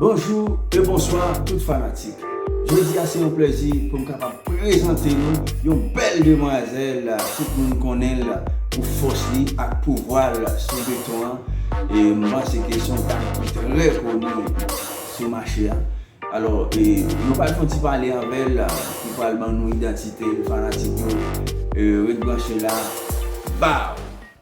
Bonjou e bonswa tout fanatik. Jodi a se yon plèzi pou m kapab prezante nou yon bèl demwazèl tout moun konnen l pou fòs li ak pouvwa l sou beton an e m panse ke se yon dam ki trè koni sou mache a. Alò e nou pral fè yon ti pale avè l pou l pral ban nou idantite l fanatik yo ret branche la baww.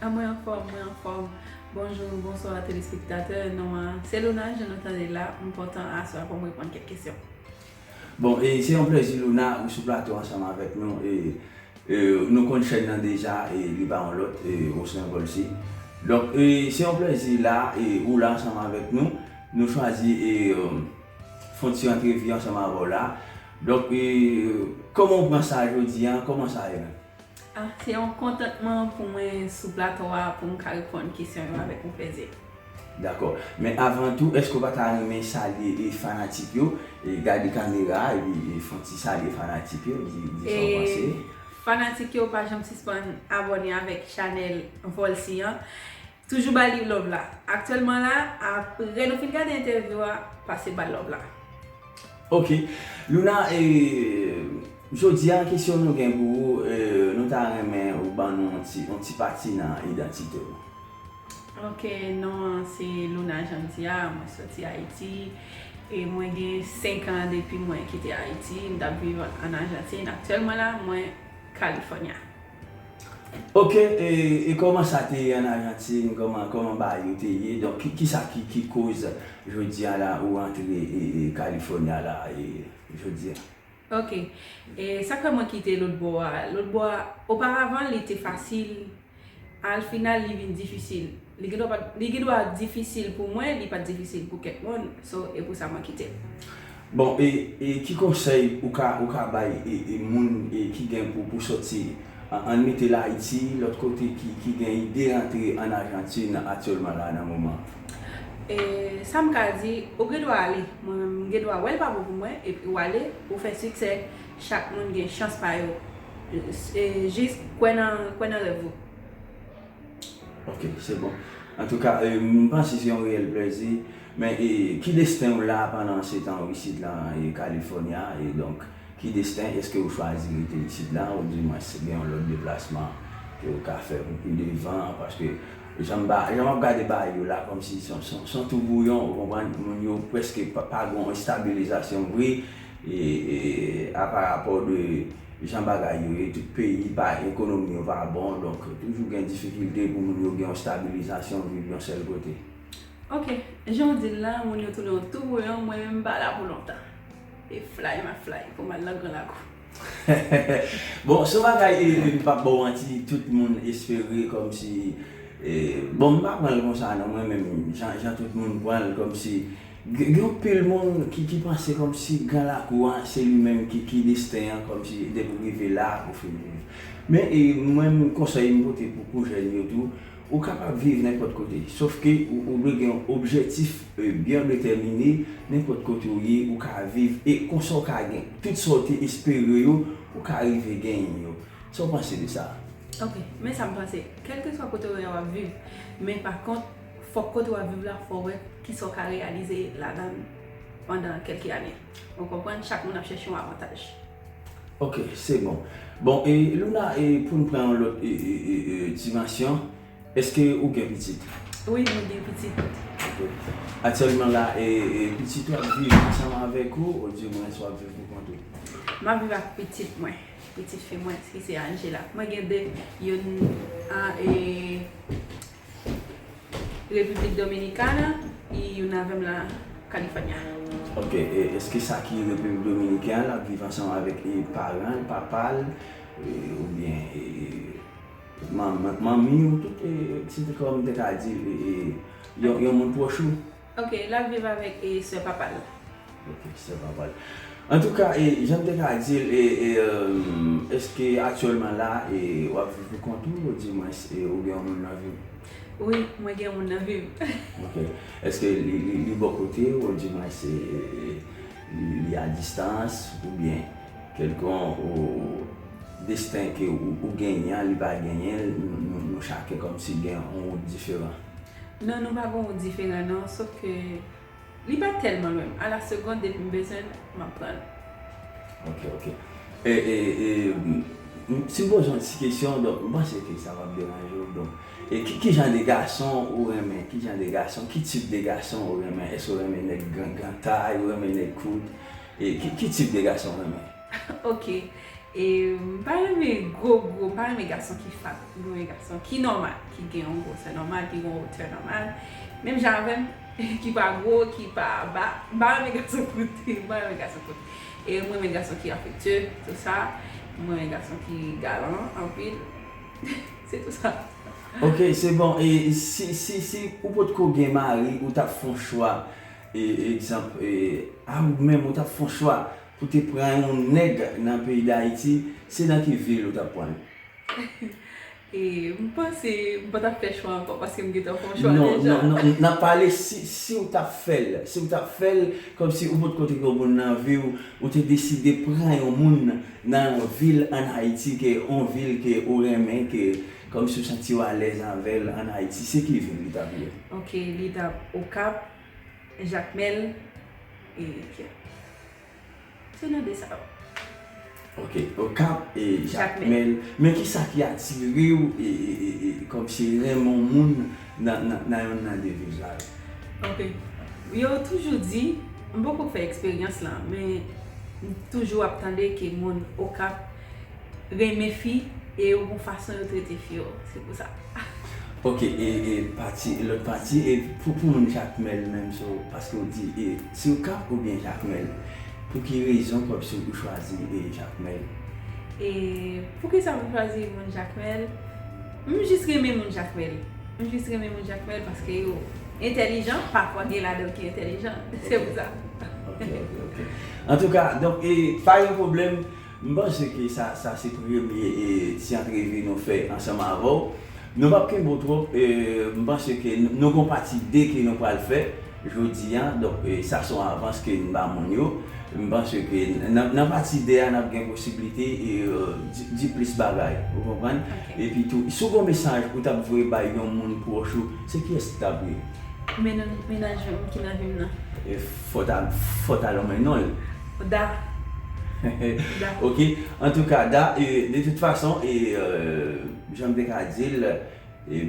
A mwen anfòm mwen anfòm Bonjour bonsoir telespektatè non an se Luna jan nou tande la m kontan aswè a pou m reponn kèk kesyon. Bon e se yon plèzi Luna ou sou plato ansanm avèk nou e e nou konn chèn nan deja e li pa yon lòt e Oslen Volcy donk e se yon plèzi la e ou la ansanm avèk nou nou chwazi e fon ti antrevi ansanm avèw la donk e kòman ou pran sa jodi an kòman sa ye menm? Ah se yon kontantman pou mwen sou plato a pou m ka reponn kesyon yo avèk yon plezi. Dakò. Men avan tou, èske ou pa ta renmen salye e fanatik yo? E gade kamera a epi fon ti salye fanatik yo, di di sa w panse. Fanatik yo pa janm sispann abòne avèk chanèl Volcy an. Toujou ba li love la. Aktyèlman la aprè nou fin gade entèvyou a pase bal love la. Ok Louna e jodia kesyon nou gen pou ou e nou ta renmen ou ban nou yon ti pati nan idantite ou. Ok non an se Louna janm di a mwen soti ayiti e mwen gen 5 an depi mwen kite ayiti m tap viv an ajantin aktyèlman la mwen California. Ok e koman sa te ye an Argentine koman koman bagay yo te ye donk kisa ki ki koz jodi an la ou antre California la e jodi an. Ok e sak fè mwen kite lòt bò a lòt bò a oparavan li te fasil al final li vin difisil. Li gendwa pat li gendwa difisil pou mwen li pat difisil pou kèk moun so e pou sa mwen kite l. Bon e e ki konsèy ou ka ou ka bay e e moun e ki gen pou pou sòti an ann mete l Ayiti lòt kote ki ki gen ide rantre ann Ajantin atyèlman la nan moman an? E sa m ka di ou gen dwa ale mwen menm m gen dwa wè l pa bon pou mwen epi w ale ou fè siksè chak moun gen chans pa yo e jis kwè nan kwè nan rèv ou. Ok se bon antouka m panse se yon reyèl plèzi men ki desten w la pandan se tan ou isit la California e donk ki desten eske ou chwazi rete isit la ou di mwens gen yon lòt deplasman ke ou ka fè pou pi devan paske jan m ap gade bay yo la kòm si son tou bouyon ou konprann moun yo preske pa gon estabilizasyon vre a pa rapò de. Jan bagay yo ye tout peyi pa ekonomi yo pa bon donk toujou gen difikilte pou moun yo gen yon stabilizasyon viv yon sèl kote. Ok jan w dil la moun yo tounen yon tou bouyon mwen menm m pa la pou lontan e flay map flay pou m al nan gran lakou. Bon son bagay m pap ba w manti tout moun espere kòmsi bon m pa pran l konsa non mwen menm jan tout moun pran l kòmsi Gen yon pil moun ki ki panse kòmsi gran lakou an se li menm ki ki desten an kòmsi depi ou rive la ou fin viv. Men mwen m konsèy m pote pou pou jèn yo tou, ou kapab viv nenpòt kote sof ke ou dwe gen yon objètif byen detèmine nenpòt kote ou ye ou ka viv e konsa ou ka gen tout sa ou te espere yo ou ka rive genyen yo. Sa ou panse de sa? Ok, men sa m panse, kèlkeswa kote ou ye a w ap viv men pa kont Fòk kote wap viv la fò wè kisa ou ka reyalize ladan l pandan kelke ane. Ou konprann chak moun ap chèche yon avantaj. Ok se bon. Bon e Luna e poun pran yon lòt dimansyon eske ou gen pitit? Wi mwen gen pitit. Ok. Aktyèlman la e pitit ou ap viv ansanm avèk ou ou di mwen wap viv pou kont ou? Map viv ak pitit mwen. Pitit fi mwen ki se Angela. Mwen gen 2 youn an e. Repiblik Dominikana y una vez la California. Ok eske sa ki repiblik dominiken an lap viv ansanm avèk paranl papal oubyen manmiw tout se kòm mwen te ka di yon moun pwòch ou. Ok lap viv avèk e sè papal. Ok sè papal antouka e janm te ka dil e eske aktyèlman la e wap viv pou kont ou di mwens e ou gen yon moun nan viw. Wi mwen gen yon moun nan vim. Ok eske li bò kotew ou di mwens e li a distans ou byen kelkon ou desten ke ou genyen li pa genyen nou chake kòmsi gen yon wout diferan. Non nou pa gon diferan non sof ke li pa tèlman lwen m a la segond depi m bezwen l m ap pran l. Ok ok si m poze w ti kesyon donk m panse ke sa pap deranje w donk ki jan de gason ou renmen ki jan de gason ki tip de gason ou renmen èske ou renmen nèg gran gran tay ou renmen nèg kout ki tip de gason ou renmen. Ok e m pa renmen gwo gwo m pa renmen gason ki fat m renmen gason ki nòmal ki gen yon gwosè nòmal ki gen yon wotè nòmal menm jan avèm ki pa gwo ki pa ba m pa renmen gason kout m pa renmen gason kout e m renmen gason ki afektye tout sa m renmen gason ki galan anpil se tout sa. Ok se bon e si si ou potko gen mari ou tap fon chwa e egzanp a ou menm ou tap fon chwa Pou te pran yon nèg nan peyi dayiti se nan ki vil ou tap pranl? M panse m pa tap fè chwa ankò paske m gentan fè yon chwa deja. Non non non nap pale siw tap fèl siw tap fèl kòmsi ou potko te gen yon moun nan viw ou te deside pran yon moun nan yon vil an ayiti ke yon vil ke ou renmen ke kòmsi ou santiw alèz avèl an ayiti se ki vil li tap ye? Ok li tap okap. Jacmel e Pierre. Se nou 2 sa yo. Ok, Okap e Jacmel. Men kisa ki atirew e kòmsi renmen yon moun nan yonn nan 2 vil sa yo? Ok, yo toujou di, m poko fè eksperyans lan, men m toujou ap tande ke moun Okap renmen fi e yo gon fason yo trete fi yo se pou sa. Ok e pati e lòt pati e pou pou moun jakmèl menm so paske ou di e si ou kap ou byen jakmèl pou ki rezon pwòp si ou chwazi e jakmèl. E pou kisa pou chwazi moun jakmèl m jis renmen moun jakmèl m jis renmen moun jakmèl paske yo entèlijan pa fwa gen ladan l ki entèlijan se pou sa. Ok ok ok antouka donk e pa gen pwoblèm. M panse ke sa sa se premye ti antrevi nou fè ansanm avè w. Nou p ap kenbe w twòp. M panse ke nou gon pati 2 ke nou pral fè jodi a. Donk sa son avans ke n ba moun yo. M panse ke nan pati 2 a n ap gen posiblite di plis bagay. Ou konprann? Epi tou, si w gon mesaj ou t ap vle bay yon moun pwòch ou, se kiyès li t ap ye? Menaj m ki nan vi m nan. Fò ta lonmen non yo. Da. Da. Ok. Antouka Da, de tout fason, jan m te ka di l,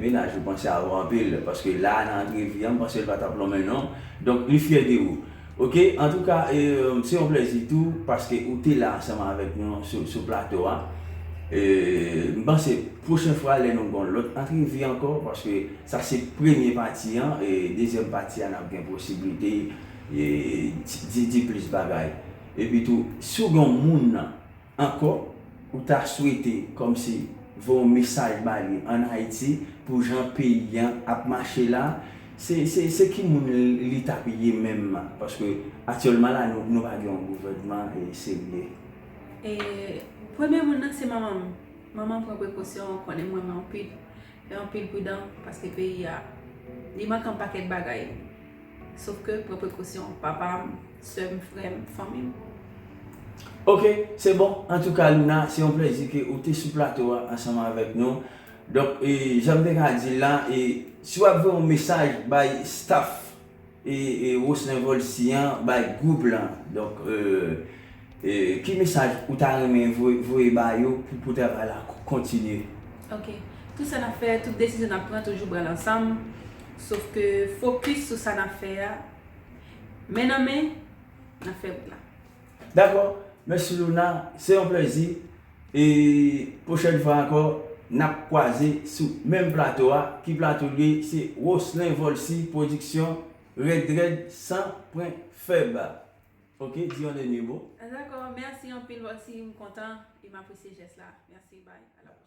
menaj ou panse a ou anpil. Paske la a nan antrevi an, m panse l pa t ap lonmen non. Donk li fyè de ou. Ok. Antouka, se yon plezi tou paske ou te la ansanm avèk nou sou plato a. M panse pwochen fwa lè nou gen yon lòt antrevi ankò, paske. Sa se premye pati an, dezyèm pati a nap gen posiblite di plis bagay. Epi tou si w gen yon moun nan ankò ou ta swete kòmsi voye yon mesaj ba li an Ayiti pou jan peyi an ap mache la, se ki moun li tap ye menm paske aktyèlman la nou pa gen yon gouvènman serye. Premye moun nan se manman m. Manman m pran prekosyon, konnen mwen anpil. Fè anpil pridan paske peyi a li manke yon pakèt bagay sof ke pran prekosyon papa m, sè m, frè m, fanmi m. Ok se bon antouka Luna se yon plèzi ke ou te sou plato a ansanm avèk nou donk janm te ka dil la e si wap voye yon mesaj bay staff. E Roslin Volcy an bay gou blan. Donk ki mesaj ou ta renmen voye ba yo pou travay la kontinye? Ok. Tout sa nap fè, tout desizyon nap pran toujou pranl ansanm. Sof ke fokis sou sa nap fè a. Men nan men, nap fè wout la. Dakò Mèsi Louna se yon plèzi e pwochèn fwa ankò nap kwaze sou menm plato a ki plato li se Roslin Volcy production Rèd Rèd san pwen fèb ok di yon dènye mo. Dakò Mèsi anpil Volcy m kontan e m apresye jès la Mèsi bye a la pwochèn.